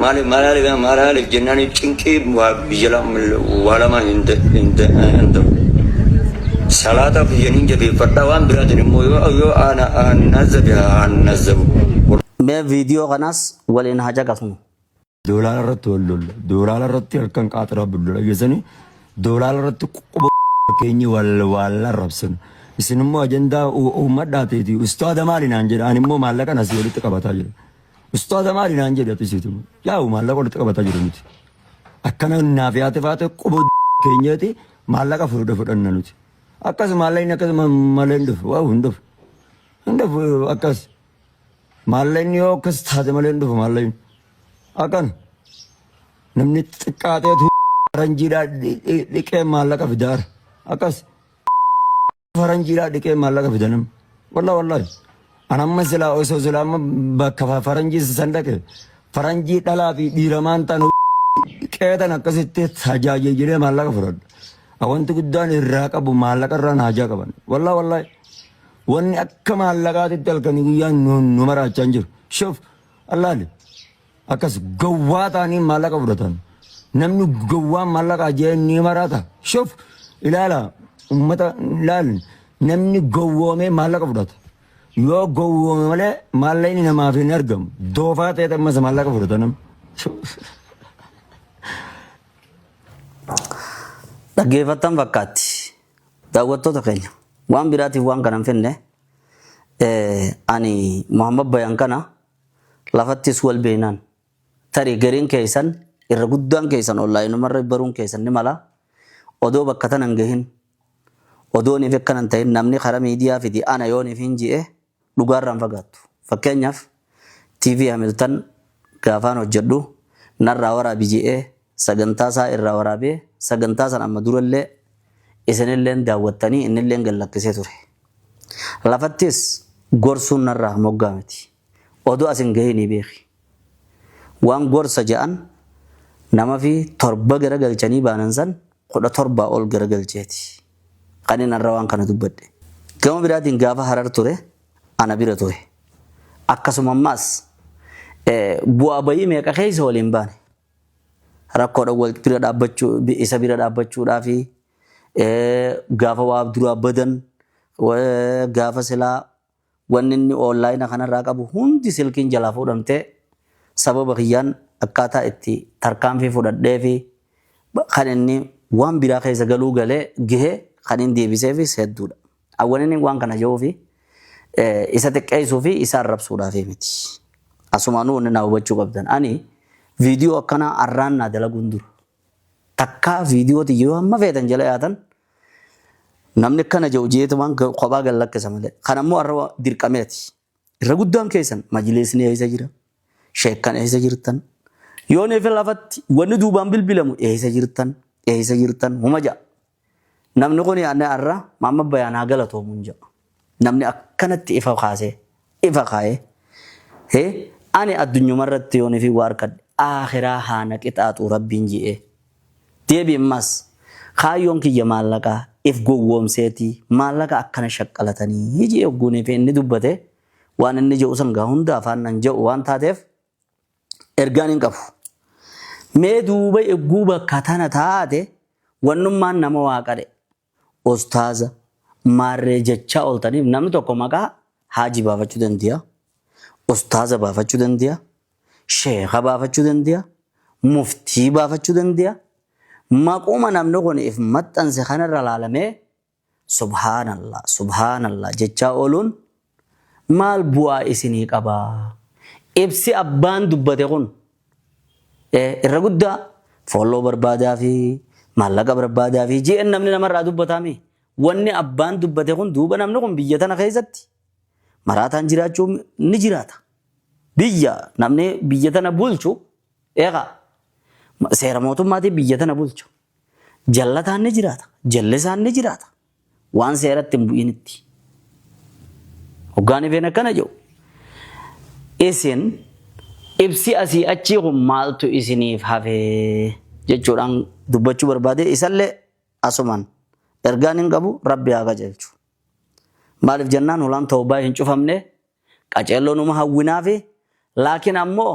Maaliif maalaaliif maalaaliif jennaan cinqii waa biyya lam- waa lama hin da- hin da- hin ta'u. Salaata kiyyaniin jabeeffadha waan biraatiin immoo yoo yoo ana annazabe annazabu. Mee viidiyoo kanas waliin haa caqasnu. Doolaara irratti wal lolla. Doolaara irratti harkaan qaaxaraa bullola geessanii doolaara irratti quba keenyi wal wal arrabsinu. Isin immoo ajandaa u- uummadhaa ta'eeti. Ustaada maali naan jedha. Ani immoo maallaqa nas walitti qabataa jira. Ustaaza maali naan jedhe apisiitu. Yaa'u maallaqa walitti qabataa jiru nuti. Akkana naaf yaate faate quboo keenyati maallaqa furuudha fudhanna nuti. Akkas maallaqni akkas malee hin dhufu. Waa'u hin dhufu. Hin dhufu akkas. Maallaqni yoo akkas taate malee hin dhufu maallaqni. Akkan namni xiqqaateetu ranjiidhaa dhiqee maallaqa fidaara. Akkas. faranjiidhaa dhiqee maallaqa fida namni. Wallah wallahi. An amma silaa osoo silaa amma bakka fa- faranjii san dhaqe faranjii dhalaa fi dhiiramaan ta'an qeetan akkasitti tajaajilee maallaqa fudhadha. A Wanti guddaan irraa qabu maallaqa irraa haajaa qaban. Wallah wallahi. Wanni akka maallaqaatitti halkanii guyyaan nu nu maraachaa hin jiru. Shuf allaali. Akkas gowwaa ta'anii maallaqa fudhatan. Namni gowwaan maallaqa ajja'ee ni maraata. Shuf ilaala uummata ilaal namni gowwoomee maallaqa fudhata. Yoo gowwoome malee maallaqni namaaf hin argamu. Doofaa ta'ee ammas maallaqa fudhata namni. Dhaggeeffattan fakkaatti. Daawwattoota keenya waan biraatiif waan kana hin finne eh, ani Muhammad Bayan kana Lafattis wal beeknaan. Tarii gariin keessan, irra guddaan keessan onlaayinumarra baruun keessan ni mala. Odoo bakka tana hin gahin, odoo niif akkana hin ta'in namni karaa miidiyaa fidi ana yoo niif hin je'e dhugaarraa hin fagaattu. Fakkeenyaaf, TV Hamilton gaafaan hojjadhu narraa waraabi je'ee, sagantaa isaa irraa waraabee sagantaa san amma dura illee isin illeen daawwattanii inni illeen gad lakkisee ture. Lafattis gorsuun narraa moggaa miti. Odoo as hin gahinii beeki. Waan gorsa ja'an namafi torba gara galchanii baanan san kudha torbaa ol gara galcheeti. Kan inni har'a waan kana dubbadhe. Gama biraatiin gaafa harar ture ana bira ture. Akkasuma ammaas bu'aa bayii meeqa keessa waliin baane. Rakkoodhan wal bira dhaabbachuu, isa bira dhaabbachuudhaafi, gaafa waa duraa badan, gaafa silaa wanni inni online kanarraa qabu hundi silkiin jalaa fuudhamtee sababa kiyyaan akkaataa itti tarkaanfii fudhadheefi kan inni waan biraa keessa galuu galee gahe kan inni deebiseefis hedduudha. Awwaniniin waan kana je'uufi isa xiqqeessuu fi isa arrabsuudhaaf miti. Asumaanuu wanni naa hubachuu qabdan ani viidiyoo akkanaa arraan naa dalaguun dura takkaa viidiyoo tiyya yoo hamma feetan jala yaatan namni akkana je'u jeetumaan kophaa gad lakkisa malee. Kan ammoo arra dirqameeti. Irra guddaan keessan majliisni eessa jira? Sheekkan eessa jirtan? Yoo neefe lafatti wanni duubaan bilbilamu eessa jirtan? Eessa jirtan? Huma ja'a. Namni kun yaadne har'a Maamma Bayaan haa galatoomuun ja'a. Namni akkanatti ifa kaasee ifa kaa'ee hee ani addunyuma irratti yoo neefi waa harkadhe aakhiraa haa na qixaaxuu rabbiin ji'ee. Deebi immas Kaayyoon kiyya maallaqa if gowwoomseeti maallaqa akkana shaqqalatanii je'ee hogguunii fi inni dubbate waan inni je'u san gaa hunda afaan nan je'u waan taateef ergaan hin qabu. Mee duuba egguu bakka tana taate wannummaan nama waaqa dhe, Ustaaza, maarree jechaa ooltaniif namni tokko maqaa Haaji baafachuu dande'a, Ustaaza baafachuu dande'a, Sheekha baafachuu dande'a, Muftii baafachuu dande'a. Maquma namni kun if maxxanse kanarra laalamee Subhaanallah, Subhaanallah jechaa ooluun maal bu'aa isinii qaba? Ibsi abbaan dubbate kun irra guddaa follow barbaadaafi, maallaqa barbaadaafi jn namni namarraa dubbataamii. Wanni abbaan dubbate kun duuba namni kun biyya tana keessatti maraataan jiraachuu ni jiraata. Biyya namni biyya tana bulchu eega seera mootummaatiin biyya tana bulchu. Jallataan ni jiraata, jallisaan ni jiraata. Waan seeratti hin bu'initti. Hoggaan ifeen akkana jedhu. Isin ibsi asii achii kun maaltu isiniif hafee jechuudhaan dubbachuu barbaade isallee asumaan ergaan hin qabu rabbi haa qajeelchu. Maaliif jennaan hulaan tawbaa hin cufamne qaceelloo numa hawwinaafi laakiin ammoo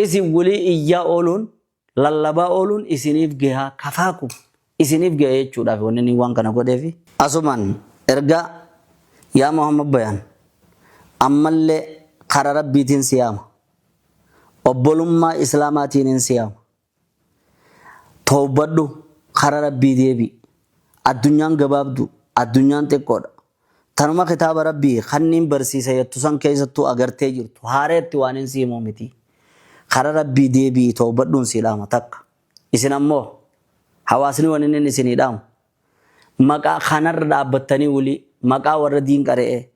isin walii iyyaa ooluun lallabaa ooluun isiniif geha kafaa kun isiniif geha jechuudhaaf wanni inni waan kana godheefi. Asumaan ergaa Yaa Muhammad bayaan ammallee kara Rabbiitiin si yaama, obbolummaa Islaamaatiinin si yaama, tawbadhu kara Rabbii deebi'i, addunyaan gabaabduu, addunyaan xiqqoodha, Tanuma kitaaba Rabbii kanniin barsiisa yattu san keessattuu agartee jirtu haareetti waanin si himu miti. Kara Rabbii deebi'ii towbadhuun sii dhaama takka. Isin ammoo hawaasni waninin isinii dhaamu maqaa kanarra dhaabbattanii wly maqaa warra diin qare'ee,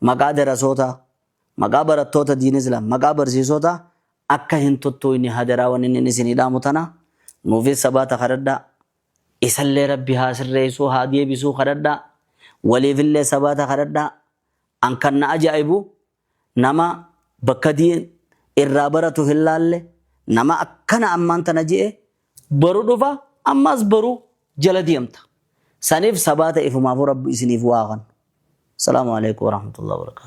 maqaa darasootaa, maqaa barattoota diin islaam, maqaa barsiisootaa akka hin tuttuuyne hadaraa waninin isinii dhaamu tana. Nuufis sabaata kadhadhaa. Isallee rabbi haa sirreessuu haa deebisuu kadhadhaa waliifillee sabaata kadhadhaa an kan na ajaa'ibu nama bakka diin irraa baratu hin laalle nama akkana ammaan tana je'e boru dhufa ammaas boru jala deemta saniif sabaata ifumaafuu rabbi isiniif waa haa kannu Salaamu Aleeykum Warahmatullahi Wabarakaatuh.